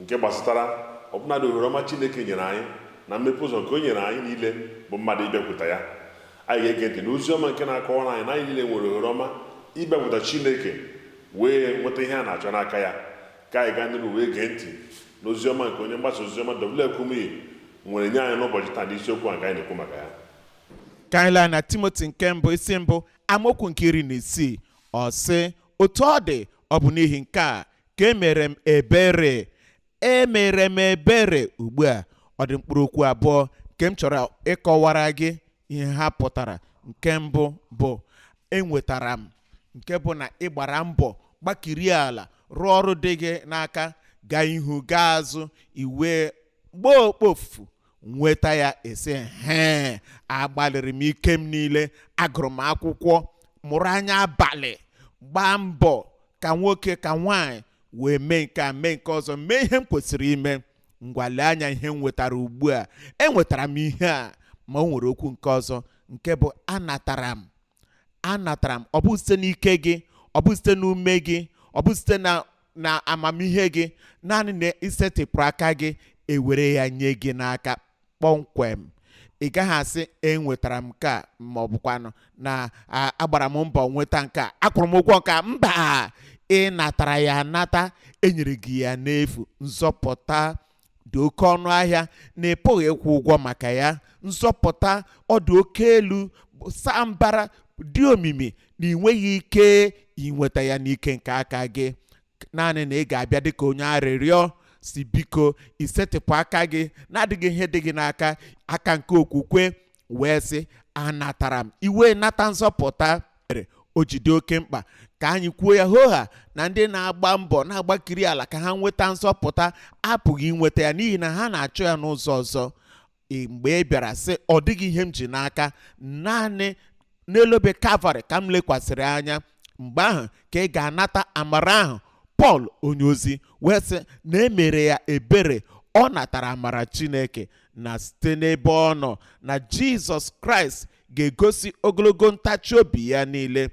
nke gbasatara ọbụnadị ohere ọma Chineke nyere anyị na mmepe ụzọ nke o nyere anyị niile bụ mmadụ ịbịakwuta ya. Anyị ga-ege ntị n'ozi ọma nke na-akọwara anyị na anyị niile nwere ohere ọma ịbịakwuta Chineke wee nweta ihe a na-achọ n'aka ya. Ka anyị gaa n'iru wee gee ntị n'ozi ọma nke onye mgbasa ozi ọma W. F. Kumuyi nwere nye anyị n'ụbọchị taa n'isiokwu a nke anyị na-ekwu maka ya. Ka anyị laa na Timoti nke mbụ isi mbụ amaokwu nke iri na isii ọ sị otu ọ dị ọ bụ n'ihi nke a ka e mere m ebere e mere m ebere ugbu a ọ dị mkpụrụ okwu abụọ nke m chọrọ ịkọwara gị ihe ha pụtara nke mbụ bụ enwetara m nke bụ na ị gbara mbọ gbakiri ala rụọ ọrụ dị gị n'aka gaa ihu gaa azụ i wee gbaa okpofu nweta ya ị sị hee agbalịrị m ike m niile agụrụ m akwụkwọ mụrụ anya abalị gbaa mbọ ka nwoke ka nwaanyị wee mee nke a mee nke ọzọ mee ihe m kwesịrị ime ngwa lee anya ihe m nwetara ugbu a enwetara m ihe a ma o nwere okwu nke ọzọ nke bụ anatara m anatara m ọ bụ site n'ike gị ọ bụ site n'ume gị ọ bụ site na na amamihe gị naanị na i setịpụrụ aka gị e were ya nye gị n'aka kpọmkwem ị gaghị asị enwetara m nke a ma ọ bụkwanụ na a- agbara m mbọ nweta nke a akwụrụ m ụgwọ nke a mba ị natara ya anata e nyere gị ya n'efu nzọpụta dị oke ọnụ ahịa na ị pụghị ịkwụ ụgwọ maka ya nzọpụta ọ dị oke elu saa mbara dị omimi na ị nweghị ike inweta ya n'ike nke aka gị naanị na ị ga-abịa dịka onye arịrịọ sị biko i setịpụ aka gị na-adịghị ihe dị gị n'aka aka nke okwukwe wee sị anatara m i wee nata nzọpụta mere o ji dị oke mkpa ka anyị kwuo ya hoha na ndị na-agba mbọ na-agbakiri ala ka ha nweta nzọpụta apụghị inweta ya n'ihi na ha na-achọ ya n'ụzọ ọzọ Ị- mgbe ị bịara sị ọ dịghị ihe m ji n'aka naanị n'elu obe kalvarị ka m lekwasịrị anya mgbe ahụ ka ị ga-anata amara ahụ pọl onyeozi wee sị na e mere ya ebere ọ natara amara chineke na site n'ebe ọ nọ na jizọs kraịst ga-egosi ogologo ntachi obi ya niile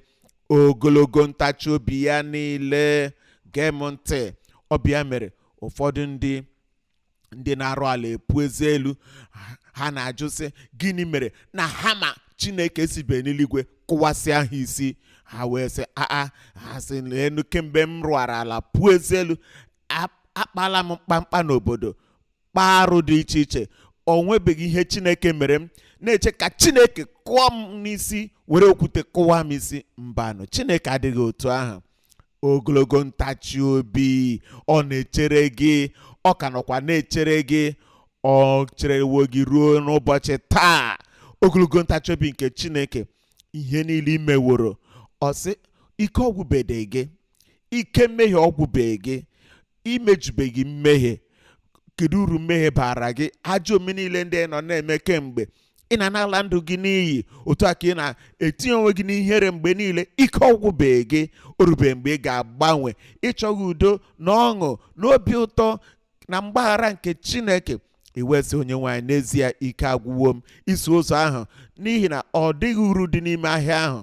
ogologo ntachi obi ya niile gee m ntị ọ bụ ya mere ụfọdụ ndị ndị na-arụ ala epu eze elu ha- ha na-ajụ sị gịnị mere na hama chineke esibe n'eluigwe kụwasịa ha isi ha wee sị aa ha sị leenụ kemgbe m rụara ala puo eze elu a- akpala m mkpamkpa n'obodo kpaa arụ dị iche iche o nwebeghị ihe chineke mere m na-eche ka chineke kụọ m n'isi were okwute kụwa m isi mbanụ chineke adịghị otu ahụ ogologo ntachi obi ọ na-echere gị ọ ka nọkwa na-echere gị o cherewo gị ruo n'ụbọchị taa ogologo ntachi obi nke chineke ihe niile i meworo ọ sị ike ọgwụbeghị gị ike mmehie ọgwụbeghị gị i mejubeghị mmehie kedu uru mmehie baara gị ajọ omume niile ndị ị nọ na-eme kemgbe ị na na-ala ndụ gị n'iyi otu a ka ị na-etinye onwe gị n'ihere mgbe niile ike ọgwụbeghị gị o rubeghị mgbe ị ga-agbanwe ị chọghị udo na ọṅụ na obi ụtọ na mgbaghara nke chineke ị wee sị onyenwe anyị n'ezie ike agwụwo m iso ụzọ ahụ n'ihi na ọ dịghị uru dị n'ime ahịa ahụ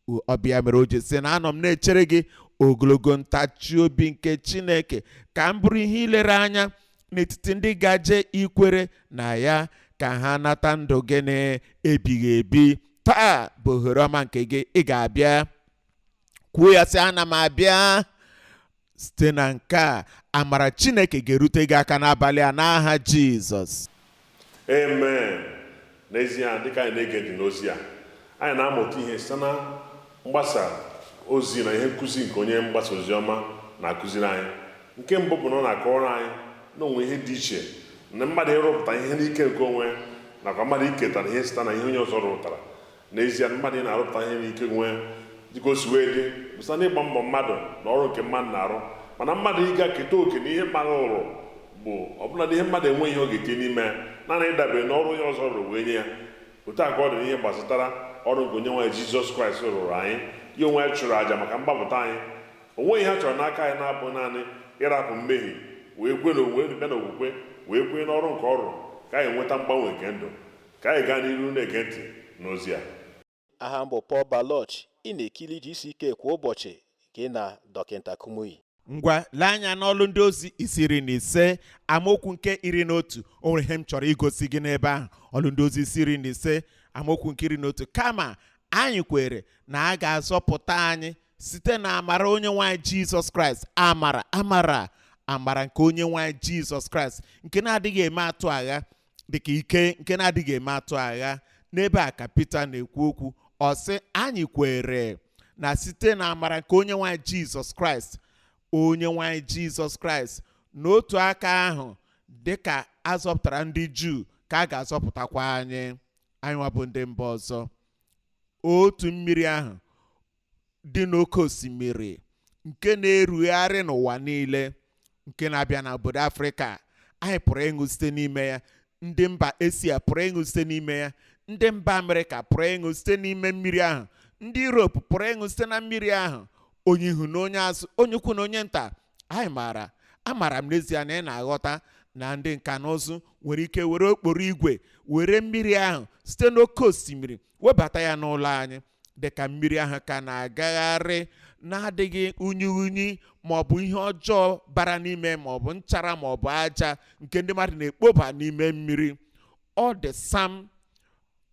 O- ọ bụ ya mere o ji sị na anọ m na-echere gị ogologo ntachi obi nke chineke ka m bụrụ ihe ilere anya n'etiti ndị gaje ikwere na ya ka ha nata ndụ gị na-ebighị ebi taa bụ ohere ọma nke gị ị ga-abịa kwuo ya sị ana m abịa site na nke a amara chineke ga-erute gị aka n'abalị a n'aha jizọs amen n'ezie dịka anyị na-ege ntị n'ozi a anyị na-amụta ihe site na mgbasa ozi na ihe nkụzi nke onye mgbasa ozi ọma na-akụziri anyị nke mbụ bụ na ọ na-akọwara anyị na o nwe ihe dị iche na mmadụ ịrụpụta ihe n'ike nke onwe ya nakwa mmadụ iketara ihe site na ihe onye ọzọ rụpụtara N'ezie, mmadụ ị na-arụpụta ihe n'ike onwe ya dịka o si wee dị bụ site n'ịgba mbọ mmadụ na ọrụ nke mmadụ na-arụ mana mmadụ ịga keta oke na ihe mmadụ rụrụ bụ ọbụla na ihe mmadụ enweghị ihe ọ ga-etinye n'ime ya naanị ịdabere na ọrụ onye ọzọ rụrụ wee nye ya otu a ka ọ dị n'ihe gbasatara ọrụ nke onyenwe anyị jizọs kraịst rụụrụ anyị ya onwe ya chụrụ àjà maka mgbapụta anyị o nweghị ihe a chọrọ n'aka anyị na-abụ naanị ịrapụ mmehie wee kwe na o wee bịa na okwukwe wee kwenye n'ọrụ nke ọ rụrụ ka anyị nweta mgbanwe nke ndụ Ka anyị gaa n'iru na-ege ntị n'ozi a. Aha m bụ Paul Baloche. Ị na-ekiri GCK kwa ụbọchị gị na Dọkịta Kumuyi. Ngwa lee anya n'Ọlụ Ndị Ozi isi iri na ise amaokwu nke iri na otu. O nwere ihe m chọrọ igosi gị n'ebe ahụ. Ọlụ Ndị Ozi isi iri na ise amaokwu nke iri na otu. Kama anyị kwere na a ga-azọpụta anyị site na amara Onyenwe anyị Jizọs Kraịst. Amara, amara, amara nke Onyenwe anyị Jizọs Kraịst nke na-adịghị eme atụ agha, dịka ike nke na-adịghị eme atụ agha n'ebe a ka Pita na-ekwu okwu ọ sị anyị kwere na site na amara nke Onyenwe anyị Jizọs Kraịst Onyenwe anyị Jizọs Kraịst n'otu aka ahụ dịka a zọpụtara ndị Juu ka a ga-azọpụtakwa anyị anyị nwa bụ ndị mba ọzọ otu mmiri ahụ dị n'oke osimiri nke na-erugharị n'ụwa niile nke na-abịa na obodo afrịka anyị pụrụ ịṅụ site n'ime ya ndị mba asia pụrụ ịṅụ site n'ime ya ndị mba amerịka pụrụ ịṅụ site n'ime mmiri ahụ ndị europe pụrụ ịṅụ site na mmiri ahụ onye ihu na onye azụ onye ukwu na onye nta amaara amaara m n'ezie na ị na-aghọta na ndị nka na ụzụ nwere ike were okporo igwe were mmiri ahụ site n'oke osimiri webata ya n'ụlọ anyị dịka mmiri ahụ ka na-agagharị na-adịghị unyi unyi ma ọ bụ ihe ọjọọ bara n'ime ma ọ bụ nchara ma ọ bụ aja nke ndị mmadụ na-ekpoba n'ime mmiri ọ dị sam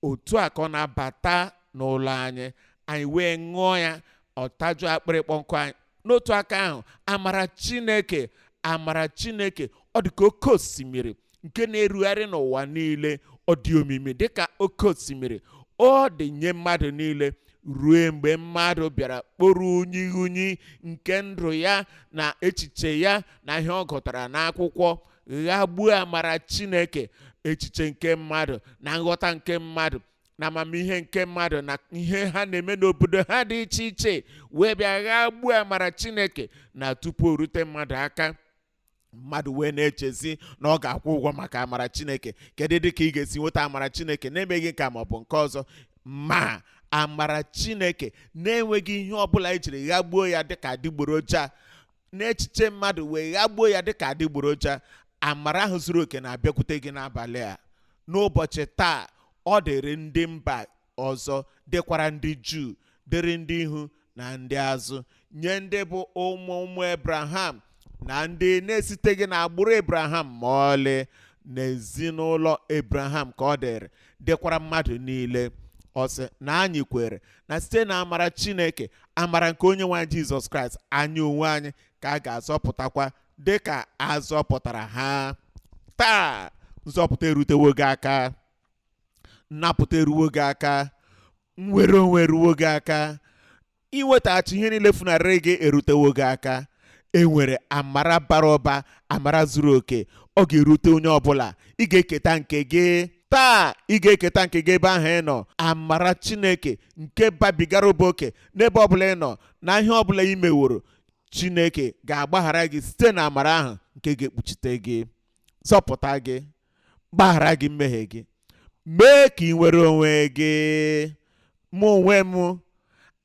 otu a ka ọ na-abata n'ụlọ anyị anyị wee ṅụọ ya ọ tajụọ akpịrị ịkpọ nkụ anyị n'otu aka ahụ amara chineke amara chineke ọ dị ka oke osimiri nke na-erugharị n'ụwa niile ọ dị omimi dị ka oke osimiri ọ dị nye mmadụ niile ruo mgbe mmadụ bịara kporo unyi unyi nke ndụ ya na echiche ya na ihe ọ gụtara n'akwụkwọ ghagbuo amara chineke echiche nke mmadụ na nghọta nke mmadụ na amamihe nke mmadụ na ihe ha na-eme n'obodo ha dị iche iche wee bịa ghagbuo amara chineke na tupu o rute mmadụ aka mmadụ wee na-echezi na ọ ga-akwụ ụgwọ maka amara chineke kedu dị ka ị ga-esi nweta amara chineke na-emeghị nke a ma ọ bụ nke ọzọ ma amara chineke na-enweghị ihe ọbụla ejiri ghagbuo ya dịka adịgboroja n'echiche mmadụ wee ghagbuo ya dịka adịgboroja amara ahụ zuru oke na-abịakwute gị n'abalị a n'ụbọchị taa ọ dịrị ndị mba ọzọ dịkwara ndị juu dịrị ndị ihu na ndị azụ nye ndị bụ ụmụ ụmụ ebraham na ndị na-esiteghị n'agbụrụ ebraham ma ọlị n'ezinụlọ ebraham ka ọ dịrị dịkwara mmadụ niile ọ sị na anyị kwere na site na amara chineke amara nke onye nwe anyị jizọs kraịst anyị onwe anyị ka a ga-azọpụtakwa dị ka a zọpụtara ha taa nzọpụta erutewo gị aka nnapụta eruwo gị aka nnwere onwe eruwo gị aka inwetaghachi ihe niile funarịrị gị erutewo gị aka e nwere amara bara ụba amara zuru oke ọ ga-erute onye ọbụla ị ga-eketa nke gị taa ị ga-eketa nke gị ebe ahụ ị nọ amara chineke nke babigara ụba oke n'ebe ọbụla ị nọ na ihe ọbụla i meworo chineke ga-agbaghara gị site na amara ahụ nke ga-ekpuchite gị zọpụta gị gbaghara gị mmehie gị mee ka i nwere onwe gị mụ onwe m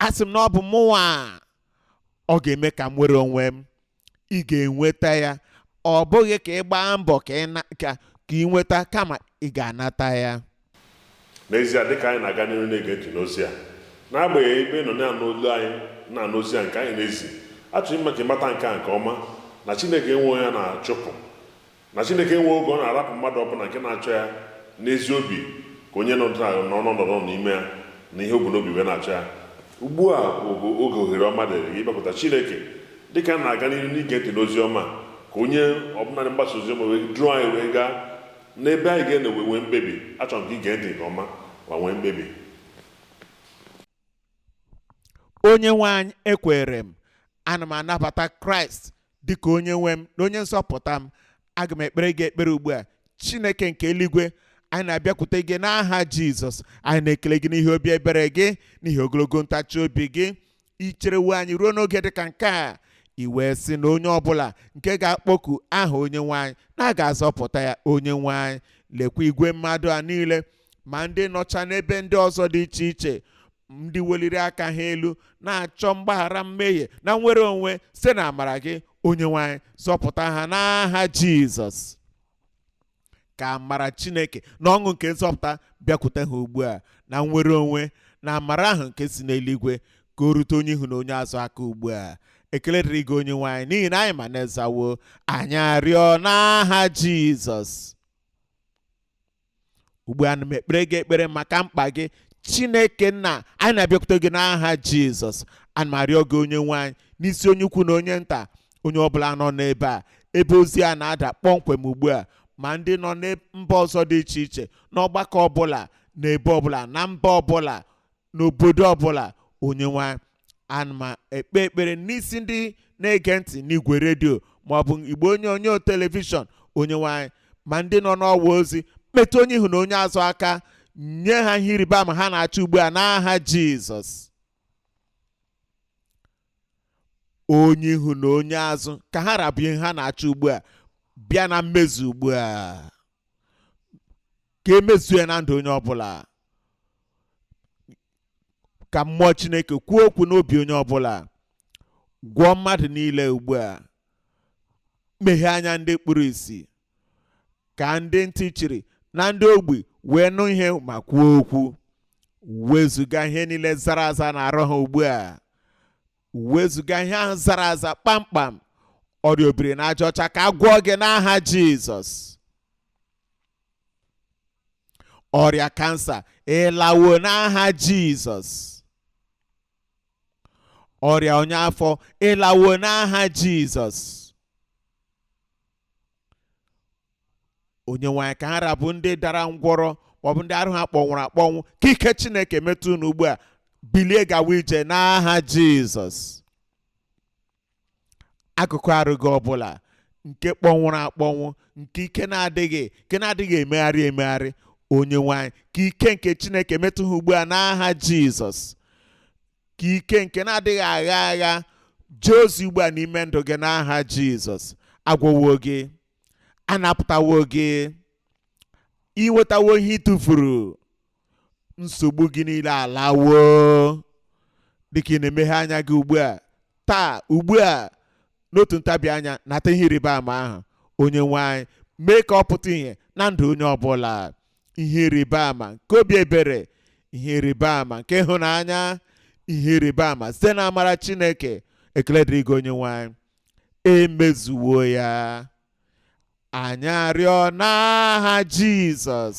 asị m na ọ bụ mụnwa ọ ga-eme ka m nwere onwe m ị ga-enweta ya ọ bụghị ka ị gbaa mbọ ka ị na- ka ka i nweta kama ị ga-anata ya N'ezie, dị ka anyị na-aga n'ihu na-ege ntị n'ozi a, n'agbanyeghị ebe ị nọ na-anụ olu anyị na-anụ ozi a nke anyị na-ezi, achọrọ m ime ka ị mata nke a nke ọma na Chineke enwe onye ọ na-achụpụ, na Chineke enwe oge ọ na-arapụ mmadụ ọbụla nke na-achọ ya n'ezi obi ka onye nọ n'ọnọdụ ọ nọ n'ime ya na ihe o bu n'obi wee na-achọ ya. Ugbu a bụ oge ohere ọma dịrị gị ịbịakwuta Chineke. Dị ka anyị na-aga n'ihu n'ige ntị n'ozi ọma a, ka onye ọbụla na-agbasa ozi ọma wee duru anyị wee gaa N'ebe anyị ga-anọ wee nwee mkpebi, achọrọ m ka ị gee ntị nke ọma ma nwee mkpebi. Onyenwe anyị, ekweere m. Ana m anabata Kraịst dị ka Onyenwe m na Onye nzọpụta m. Aga m ekpere gị ekpere ugbu a. Chineke nke eluigwe, anyị na-abịakwute gị n'aha Jizọs. Anyị na-ekele gị n'ihi obi ebere gị, n'ihi ogologo ntachi obi gị. i cherewo anyị ruo n'oge dị ka nke a i wee sị na onye ọbụla nke ga-akpọku aha onye nwe anyị na a ga-azọpụta ya onye nwe anyị lekwa igwe mmadụ a niile ma ndị nọcha n'ebe ndị ọzọ dị iche iche ndị weliri aka ha elu na-achọ mgbaghara mmehie na nnwere onwe site n'amara gị onye nwe anyị zọpụta ha n'aha jizọs ka amara chineke na ọṅụ nke nzọpụta bịakwute ha ugbu a na nnwere onwe na amara ahụ nke si n'eluigwe ka o rute onye ihu na onye azụ aka ugbu a ekele dịrị gị onye nwe anyị n'ihi na anyị ma na ị zawo anyị arịọ n'aha jizọs ugbu a ana m ekpere gị ekpere maka mkpa gị chineke nna anyị na-abịakwute gị n'aha jizọs ana m arịọ gị onye nwe anyị n'isi onye ukwu na onye nta onye ọbụla nọ n'ebe a ebe ozi a na-ada kpọmkwem ugbu a ma ndị nọ na mba ọzọ dị iche iche n'ọgbakọ ọbụla n'ebe ọbụla na mba ọbụla n'obodo ọbụla onye nwe anyị ana m ekpe ekpere n'isi ndị na-ege ntị n'igwe redio maọbụ igbe onyonyo telivishọn onye nwe anyị ma ndị nọ n'ọwa ozi metụ onye ihu na onye azụ aka nye ha ihe ịrịba ama ha na-achọ ugbu a n'aha jizọs onye ihu na onye azụ ka ha ra bụ ihe ha na-achọ ugbu a bịa na mmezu ugbu a ka e mezuo ya na ndụ onye ọbụla ka mmụọ chineke kwuo okwu n'obi onye ọbụla gwọọ mmadụ niile ugbu a meghee anya ndị kpuru isi ka ndị ntị chiri na ndị ogbi wee nụ ihe ma kwuo okwu wezuga ihe niile zara aza n'arụ ha ugbu a wezuga ihe ahụ zara aza kpamkpam ọrịa obiri n'aja ọcha ka a gwọọ gị n'aha jizọs ọrịa kansa ị lawo n'aha jizọs ọrịa ọnya afọ ị lawo n'aha jizọs onye nwe anyị ka ha ra bụ ndị dara ngwọrọ maọbụ ndị arụ ha kpọnwụrụ akpọnwụ ka ike chineke metụ unu ugbu a bilie gawa ije n'aha jizọs akụkụ arụ gị ọbụla nke kpọnwụrụ akpọnwụ nke ike na-adịghị nke na-adịghị emegharị emegharị onye nwe anyị ka ike nke chineke metụ ha ugbu a n'aha jizọs ka ike nke na-adịghị agha agha jee ozi ugbu a n'ime ndụ gị n'aha jizọs a gwọwo gị a napụtawo gị i nwetawo ihe i tufuru nsogbu gị niile alawo dịka ị na-emeghe anya gị ugbu a taa ugbu a n'otu ntabi anya nata ihe ịrịba ama ahụ onye nwe anyị mee ka ọ pụta ihe na ndụ onye ọbụla ihe ịrịba ama nke obi ebere ihe ịrịba ama nke ịhụnanya ihe ịrịba ama site na amara chineke ekele dịrị gị onye nwe anyị e mezuwo ya anyị arịọ n'aha jizọs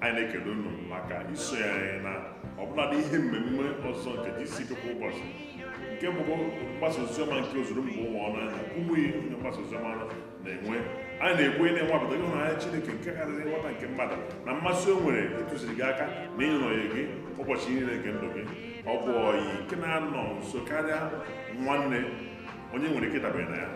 anyị na-ekele unu maka isonyere anyị na ọbụladị ihe mmemme ọzọ nke gck kwa ụbọchị nke bụ mgbasa oziọma nke ozuru mba ụwa ọnụ anyị na kumuyi onye mgbasa oziọma na-enwe anyị na-ekwenye na ị nwapụtago ịhụnanya Chineke nke karịrị nghọta nke mmadụ na mmasị o nwere ịtụziri gị aka na ịnọnye gị ụbọchị niile nke ndụ gị ọ bụ ọyị nke na-anọ nso karịa nwanne onye i nwere ike ịdabere na ya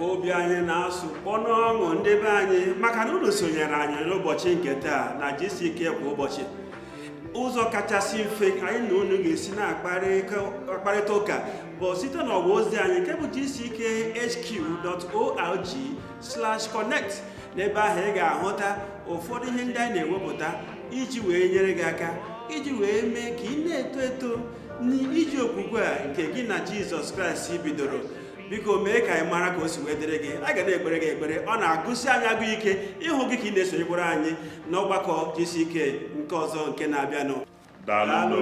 obi anyị na-asụ kpọ n'ọṅụ ndị be anyị maka na unu sonyere anyị n'ụbọchị nke taa na gck kwa ụbọchị ụzọ kachasị mfe anyị na unu ga-esi na-akparịta ụka bụ site n'ọwa ozi anyị nke bụ gckhq.org/connect n'ebe ahụ ị ga-ahụta ụfọdụ ihe ndị anyị na-ewepụta iji wee nyere gị aka iji wee mee ka ị na-eto eto n'ije okwukwe a nke gị na jizọs kraịst bidoro biko mee ka anyị mara ka o si wee dịrị gị a ga na-ekpere gị ekpere ọ na-agụsi anyị agụụ ike ịhụ gị ka ị na-esonyekwara anyị n'ọgbakọ gck nke ọzọ nke na-abịanụ daalụ